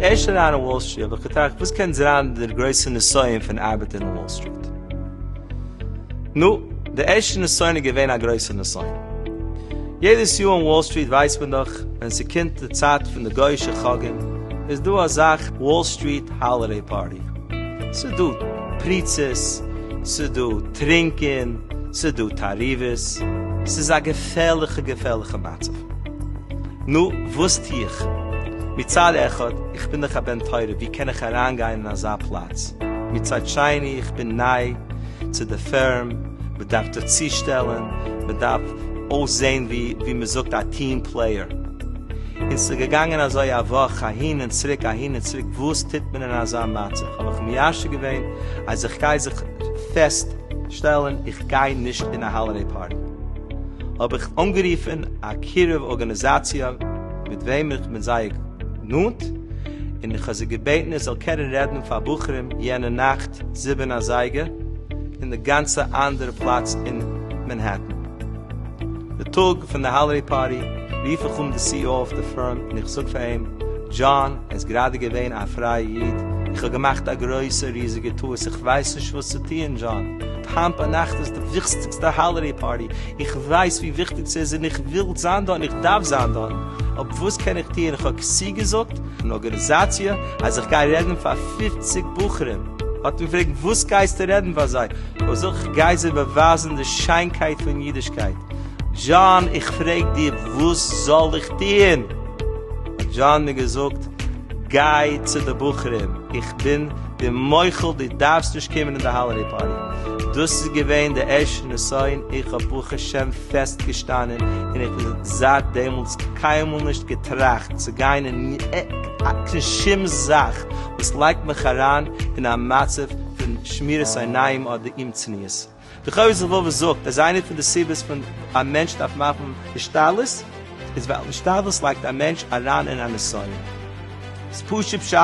ערשט אריין אין וואל סטריט האב איך געטראכט וואס קען זיין דער גרויסער נסיון פון ארבעטען אין וואל סטריט נו דער ערשטער נסיון איז געווען א גרויסער נסיון יעדעס יאר אין וואל סטריט ווייסט מען דאך ווען ס'קומט די צייט פון די גוי'שע חגים איז דא א זאך וואל סטריט האלידעי פארטי, ס'דא פריצות, ס'דא טרינקען, ס'דא תערובות, ס'איז א געפערליכע געפערליכע מצב. נו, וואס טו איך? מצד אחד, איך בין דאך א בן תורה, ווי קען איך אריינגיין אין אזא פלאץ? מצד שני, איך בין ניי צו די פירם, מ'דארף זיך צושטעלען, מ'דארף אויסזעהן ווי מ'זאגט א טיעם פלעיער. און ס'איז געגאנגען אזוי א וואך אהין און צוריק אהין און צוריק, וואס טוט מען אין אזא מצב? האב איך מיישב געווען אז איך גיי זיך פעסט שטעלען איך גיי נישט אין א האלידעי פארטי. האב איך אנגערופען א קירוב ארגאניזאציע מיט וועם איך בין זייער נאנט, און איך האב זי געבעטען איך זאל קענען רעדען פאר בחורים יענע נאכט זיבען אזייגער, אין די גאנצע אנדערע פלאץ אין מענהעטן. די טאג פון די האלידעי פארטי רוף איך אן די סי אי או אויף די פארם און איך זאג פאר אים, דזשאן, ער איז גראדע געווען א פרייע איד, איך האב געמאכט א גרויסע ריזיגע טעות, איך ווייס נישט וואס צו טוען, דזשאן, היינט ביינאכט איז די וויכסטיגסטע האלידעי פארטי, איך ווייס ווי וויכטיג ס'איז און איך וויל זיין דארט און איך דארף זיין דארט, אבער וואס קען איך טוען, איך האב כסדר געזאגט אן ארגאניזאציע אז איך גיי רעדן פאר פֿופֿציק בחורים האט מיר געפרעגט וואס גייסטו רעדן פאר זיי? איך זאג איך גיי זיי באווייזן די שיינקייט פון אידישקייט. דזשאן איך פרעג דיר וואס זאל איך טוען? האט דזשאן מיר געזאגט גיי צו די בחורים איך בין דיר מוחל דו דארפסט נישט קומען אין די האלעדעי פארטי. דאס איז געווען די ערשטע נסיון איך האב ברוך השם פעסט געשטאנען און איך האב זייט דעמאלטס קיינמאל נישט געטראכט צו גיין אין שום זאך וואס לייגט מיך אריין אין א מצב פון שמירת עיניים אדער אומצניעות. די חובת הלבבות זאגט אז איינע פון די סיבות פון א מענטש דארף מאכן השתדלות איז ווייל השתדלות לייגט א מענטש אריין אין א נסיון. ס פשוט פשט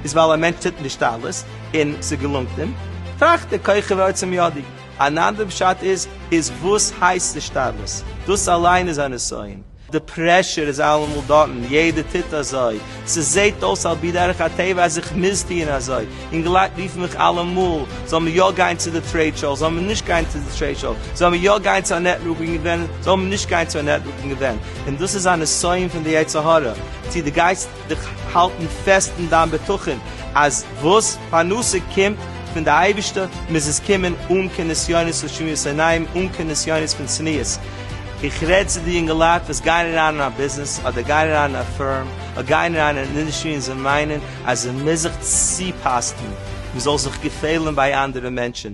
איז ווייל א מענטש טוט השתדלות און ס'געלונגט אים טראכט ער כוחי ועוצם ידי. אן אנדער פשט איז, איז וואס הייסט השתדלות? דאס אליין איז א נסיון. די פרעשור איז אלעמאל דארטן, יעדער טוט אזוי. ס'זעט אויס על פי דרך הטבע אז איך מוז טוען אזוי. אינגעלייט רופן מיך אלעמאל, זאל מען יא גיין צו די טרעיד שאו, זאל מען נישט גיין צו די טרעיד שאו, זאל מען יא גיין צו א נעטווארקינג איווענט, זאל מען נישט גיין צו א נעטווארקינג איווענט. און דאס איז א נסיון פון די יצר הרע. צו דו גייסט. דיך האלטן פעסט אין דיין בטחון אז וואס פרנסה קומט פון די אייבישטער מוז עס קומען אן קיין נסיונות ושמיעות עיניים, אן קיין נסיונות פון צניעות. איך רעד צו די יונגעלייט וואס גייען אריין אין א ביזנעס אדער גייען אריין אין א פירם אדער גייען אריין אין אן אינדעסטרי און זיי מיינען אז מען מוז זיך צופאסטן, מען זאל זיך געפעלן ביי אנדערע מענטשן.